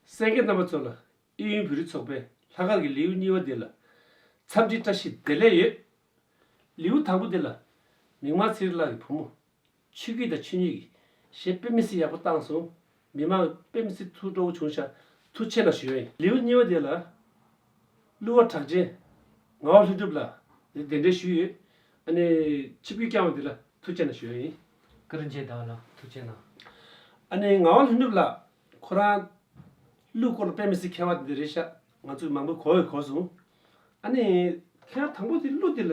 སེང་གེ་རྣམ་པ་ཚོ་ལ་ཨི་ཡུན་བོད་རིགས་ཚོགས་པའི་ལྷག་དཀར་གྱི་ལེའུ་གཉིས་པ་འདི་ལ་འཚམས་འདྲི་བཀྲ་ཤིས་བདེ་ལེགས་ཡོད། ལེའུ་དང་པོ་འདི་ལ་མིག་དམར་ཚེ་རིང་ལགས་ཀྱི་བུ་མོ། ཆོས་སྐྱིད་དང་ཆོས་ཉིད་ཀྱིས་གཞས་དཔེ་མི་སྲིད་ཡག་པོ་བཏང་སོང། མི་མང་དཔེ་མི་སྲིད་ཐུགས་སྤྲོ་བོ་བྱུང་ཤག་ཐུགས་ཆེ་ལ་ཞོན། ལེའུ་གཉིས་པ་འདི་ལ་གླུ་བ་གྲགས་ཅན་ངག་དབང་ལྷུན་གྲུབ་ལགས་ལ་གདན་འདྲེན་ཞུས་ཡོད། ཨ་ནི་ཆིབས་སྒྱུར་བསྐྱངས་བ་འདི་ལ་ཐུགས་ཆེ་ན་ཞོན། ཀུན་རིན་ཆེན་བདག་ལ་ཐུགས་ཆེ་ན། ཨ་ནེ་ངག་དབང་ལྷུན་གྲུབ་ལགས། ཁོ་རང། གླུའི་སྐོར་ལ་དཔེ་མི་སྲིད་མཁས་བ་འདི་རེད་ཤག་ང་ཚོས་མང་པོས་གོ་འི་གོ་སོང། ཨ་ནེ། ཁྱེད་རང་དང་པོ་དེ་གླུ་དེ་ལ།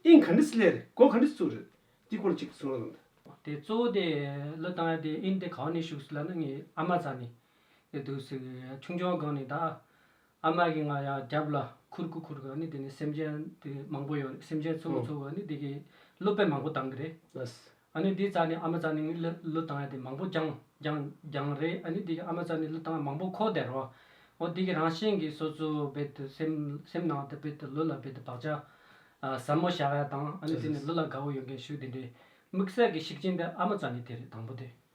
དབྱིངས་ག་འདྲི་སི་ལེ་རེད་གོ་ག་འདྲི་ཚུགས་རེད། དེའི་སྐོར་ལ་གཅིག་གསུངས་རོགས་གནང། དེ་གཙོ་བོ་དེ་གླུ་དང་དེ་དབྱིངས་དེ་གང་ནས་ཞུགས་སི་ལ་ནི་ངའི་ཨ་མ་ཚ་ནས། འདུག་སི་ཁྱུང་ཆུང་སྒང་ནས་ད། ཨ་མ་གི་ང་ཡང་རྒྱབ་ལ་ཁུར་ཁུར་ཁུར་གི་ནི་དེ་ནི་སེམས་ཅན་དེ་མང་པོ་ཡོད་རེད་སེམས་ཅན་ཚོ་ཚོ་ཚོ་གི་ནི་དེ་གི་བློ་དཔེ་མང་པོ་བཏང་གི་རེད། ཨ་ནི་དེ་རྩ་ནི་ཨ་མ་རྩ་ནི་ནི་ལི་ལུ་བཏང་ཡ་དེ་མང་པོ་རྒྱང་རྒྱང་རྒྱང་རེད་ཨ་ནི་དེ་གི་ཨ་མ་རྩ་ནི་ལུ་བཏང་ཡ་མང་པོ་ཁོག་བདེ་རོ། འོ་དེ་གི་རང་བཞིན་གི་སོ་སོ་རྦད་དེ་སེམས་སེམས་ནང་དུ་རྦད་དེ་ལུ་ལ་རྦད་དེ་བག་ཆགས་ཨ་ཟབ་མོ་བཞག་ཡ་དང་ཨ་ནི་དེ་ནི་ལུ་ལ་དགའ་བོ་ཡོད་མཁན་ཞུ་དེ་འདྲའི་དམིགས་བསལ་གི་ཤུགས་རྐྱེན་དེ་ཨ་མ་རྩ་ནི་དེ་རེད་དང་པོ་དེ།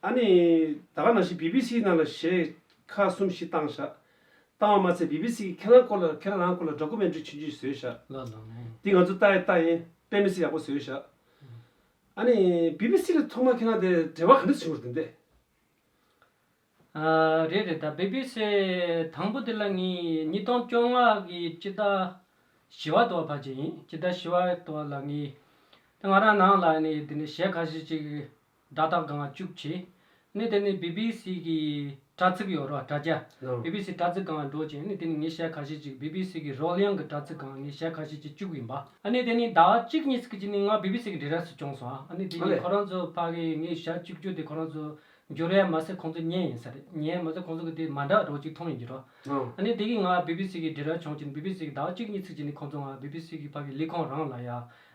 ཨ་ནི། ད་ག་ནང་བཞིན་བི་བི་སི་ནང་ལ་ཞེས་ཁ་གསུམ་བཞི་བཏང་བཞག། བཏང་བ་མ་ཚད་བི་བི་སི་གི་ཁེ་རང་སྐོར་ལ་ཁེ་རང་རང་སྐོར་ལ་སྦྲ་གུ་མན་ཀྲུའི་ཆུན་ཆུན་བཟོས་བཞག། འདི་ང་ཚོ་ལྟ་ཡི་ལྟ་ཡིན་དཔེ་མི་སྲིད་ཡག་པོ་བཟོས་བཞག། ཨ་ནི། བི་བི་སི་ལ་ཐོག་མར་ཁེ་རང་དེ་འབྲེལ་བ་ག་འདྲ་བྱུང་རེད་དམ་འདས། ཨ། རེད་རེད་ད་བི་བི་སི་དང་པོ་དེ་ལ་ངས་ཉིས་སྟོང་བཅོ་ལྔ་གི་སྤྱི་ཟླ་བཞི་བ་དོ་བ་བར་གྱི་ཡིན་སྤྱི་ཟླ་བཞི་བ་དོ་བ་ལ་ངས་ང་རང་ནང་ལ་ནས་དེ་ནས་གཞས་ཁ་ཤས་ཅིག་སྒྲ་རྟག་སྒང་བཅུག་བྱས། གནས་དེ་ནས་བི་བི་སི་གི་དྲ་ཚིགས་ཡོ་རོག་དྲ་རྒྱ། བི་བི་སི་དྲ་ཚིགས་སྒང་ལ་འགྲོ་ཅིང་གནས་དེ་ནས་ངས་ཞལ་ཁ་ཤས་ཅིག་བི་བི་སི་གི་རོལ་དབྱངས་ཀྱི་དྲ་ཚིགས་སྒང་ངས་ཞལ་ཁ་ཤས་ཅིག་བཅུག་ཡིན་པ། གནས་དེ་ནས་ཟླ་བ་གཅིག་གཉིས་ཚིག་གཅིག་ནས་ང་བི་བི་སི་གི་འབྲི་རལ་སུ་བྱུང་སོང་ཨ། གནས་དེ་ནས་ཁོ་རང་ཚོ་ཕ་གིས་ངས་ཞལ་བཅུག་རྒྱུ་དེ་ཁོ་རང་ཚོ་འགྱུར་ཡ་མ་ཟད་ཁོང་ཚོ་ཉན་ཡིན་ས་རེད་ཉན་ཡ་མ་ཟད་ཁོང་ཚོ་གི་དེ་མ་འདྲ་རོག་ཅིག་མཐོང་ཡིན་གྱི་རོགས། གནས་དེ་གིས་ང་བི་བི་སི་གི་འབྲི་རལ་བྱུང་ཅིང་བི་བི་སི་གི་ཟླ་བ་གཅིག་གཉིས་ཚིག་གཅིག་ནས་ཁོང་ཚོ་ང་བི་བི་སི་གི་ཕ་གི་ལི་ཁོང་རང་ལ་ཡ།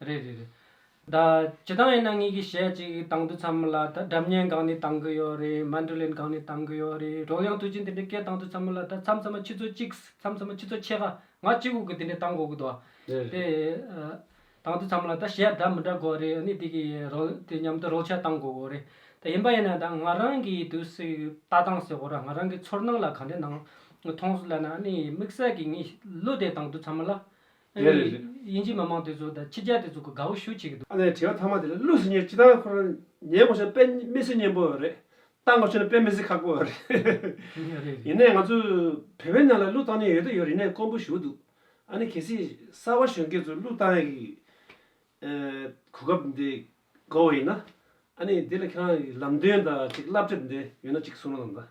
རེད་རེད་རེད་ད་ཇི་ལྟང་ཡིན་ན་ངེད་ཀྱིས་ཞལ་གཅིག་བཏང་འདུག་ཚར་མོད་ལ་ད་སྒྲ་མཉན་གང་ནས་བཏང་གི་ཡོད་རེད་མ་འདྲུ་ལེན་གང་ནས་བཏང་གི་ཡོད་རེད་རོགས་ཡང་དུས་ཆེན་དེ་འདྲའི་སྐད་བཏང་འདུག་ཚར་མོད་ལ་ད་མཚམས་མཚམས་མ་ཁྱི་ཚོ་གཅིག་མཚམས་མཚམས་མ་ཁྱི་ཚོ་ཕྱེད་ཀ་ང་གཅིག་འུག་གི་དེ་འདྲའི་བཏང་དགོས་ཀྱི་འདུག་རེད་དེ་རེད། བཏང་འདུག་ཚར་མོད་ལ་ད་ཞལ་སྒྲ་མི་འདྲ་དགོས་རེད་ཨ་ནི་དེ་གི་རོགས་དེ་མཉམ་དུ་རོགས་ཞལ་བཏང་དགོས་དགོས་རེད་ད་ཡིན་པ་ཡིན་ན་ད་ང་རང་གིས་དུས་ཚིགས་ལྟ་སྟངས་ཟེར་བོ་ར་ང་རང་གི་ཚོར་སྣང་ལ་ག་འདྲའི་སྣང་མཐོང་སུ་ལ་ན་ཨ་ནི་དམིགས་བསལ་གྱི་ངས་གླུ་དེ་བཏང་འདུག་ཚར་མོད་ལ། ཨ་རིའི་དབྱིན་ཇིའི་མི་མང་དེ་ཚོ་དང་ཕྱི་རྒྱལ་དེ་ཚོ་གི་དགའ་བོ་ཞུ་བྱེད་ཀྱི་འདུག། ཨ་ནེ་དྲི་བ་ཐ་མ་དེ་ལ་བླུགས་ཟིན་ཉེར་ཅི་ལྟར་ཁོ་རང་ཉན་དགོས་ཤག་དཔེ་མི་སྲིད་སྙན་པོ་རེད་བལྟ་དགོས་ཤག་དཔེ་མི་སྲིད་ཁག་པོ་རེད། ཡིན་ནའི་ང་ཚོ་བོད་པའི་ནང་ལ་བླུགས་བཏང་ཉེན་ཡོད་དོ་ཡོད་རིག་ནའི་དཀོན་པོ་ཞུ་འདུག་ཨ་ནེ་གལ་སྲིད་གསར་བ་གཞོན་སྐྱེས་ཚོ་བླུགས་བཏང་ཡག་གི་གོ་སྐབས་འདི་དགའ་བོ་ཡིན་ན་ཨ་ནེ་འདི་ལ་ཁྱེད་རང་གི་ལམ་སྟོན་དང་ཅིག་བསླབ་བྱ་འདི་ཡོད་ན་ཅིག་གསུང་རོགས་གནང།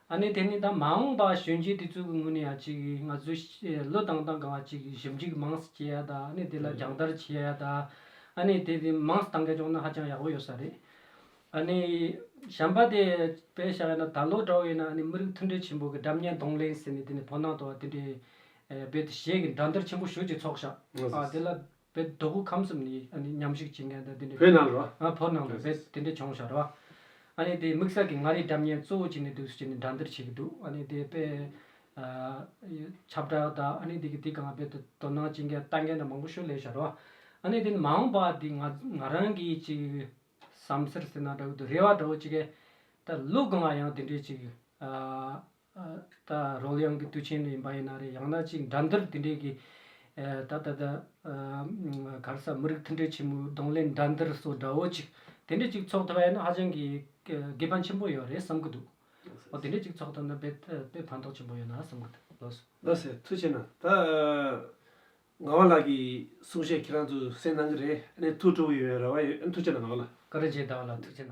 ཨ་ནི་དེ་ནི་ད་མ་འོངས་པ་གཞོན་སྐྱེས་དེ་ཚོའི་ངོས་ནས་ཡང་ཅིག་ང་ཚོའི་བློས་བཏང་སྟངས་གང་བ་ཅིག་ཞིབ་འཇུག་མང་སེ་བྱེད་ཡ་ད་ཨ་ནི་དེ་ལ་སྦྱང་བརྡར་བྱེད་ཡ་ད་ཨ་ནི་དེ་དེ་མང་སེ་ཐང་ག་བྱུང་ན་ཧ་ཅང་ཡག་པོ་ཡོད་ས་རེད། ཨ་ནི་གཞན་པ་དེ་དཔེ་བཞག་ཡ་ན་ད་ལོ་དྲ་བའི་ནང་ཨ་ནི་མི་རིགས་མཐུན་སྒྲིལ་ཆེན་པོ་གི་སྒྲ་བརྙན་གདོང་ལེན་ཟེར་ནས་དེ་ནི་བོད་ནང་དུ་བ་དེ་འདྲའི་བོད་དུ་གཞས་ཀྱི་འདྲ་མདར་ཆེན་པོ་ཞུ་ཅིག་ཚོགས་བཞག་ཨ་དེ་ལ། བའི་རྡོ་སྐུ་ཁམས་གསུམ་ནི། ཉམས་ཞིག་བྱེད་མཁན་དང་དེ་འདྲའི། བོད་ནང་ལོ། བོད་ནང་ལོ་བེད་དེ་འདྲས་བྱུང་ཞར་བ། ཨ་ནི་དེ་དམིགས་བསལ་གྱི་མངའ་རིས་འདྲ་མཉན་གཙོ་བོ་བྱས་ནས་འདུག་ཟེར་ནས་འདྲ་འདིར་བྱེད་ཀྱི་འདུག་ཨ་ནི་དེ་དཔེ། ཆབ་བྲག་དང་ཨ་ནི་དེ་གི་དེ་གང་བེད་དུ་དོ་སྣང་བྱེད་མཁན་ལྟ་མཁན་དང་མང་པོ་ཤོད་ལེ་ཞར་བ། ཨ་ནི་དེ་ནི་མ་འོངས་པ་དེ་ང་ང་རང་གིས་ཅིག། བསམ་སེར་ཟེར་ན་འདྲ་བོ་དུ་རེ་བ་འདྲ་བོ་ཅིག་གེ། ད་ལུག་དགོང་ང་ཡང་དེ་འདྲས་ཅིག། ད་རོག་གླིང་གི་དུས་ཆེན་ཡིན་པ་ཡིན་ན་རེད་ཡང་ན་ཅིག་འགྲམ་འདུལ་དེ་འདྲའི་གི། ད་ད་ད། ག་རེ་ས་མི་རིགས་མཐུན་འབྲེལ་ཆེན་མོའི་གདོང་ལེན་འགྲམ་འདུལ་སོགས་འདྲ་བོ་ཅིག་དེ་འདྲས་ཅིག་ཚོགས་ཐུབ་པ་ཡིན་ན་ཧ་ཅང་གི་དགེ་ཕན་ཆེན་པོ་ཡོད་རེད་བསམ་གྱི་འདུག་འོ་དེ་འདྲས་ཅིག་ཚོགས་ཐུབ་ན་དཔེ་ཕན་ཐོགས་ཆེན་པོ་ཡོད་ན་བསམ་གྱི་འདུག་ལོ་སི། ལོ་སི་ཐུགས་ཆེ་ན་ད། ངག་དབང་ལགས་ཀྱི་གསུང་བཤད་ཁྱེད་རང་ཚོས་གསན་གནང་གི་རེད་ཨ་ནི་ཐུགས་སྤྲོ་བོ་ཡོད་ཡོད་རེ་བ་ཡོད་ཨ་ནི་ཐུགས་ཆེ་ན་ངག་དབང་ལགས། ཀ་རེ་བྱས་བདག་ལ་ཐུགས་ཆེ་ན།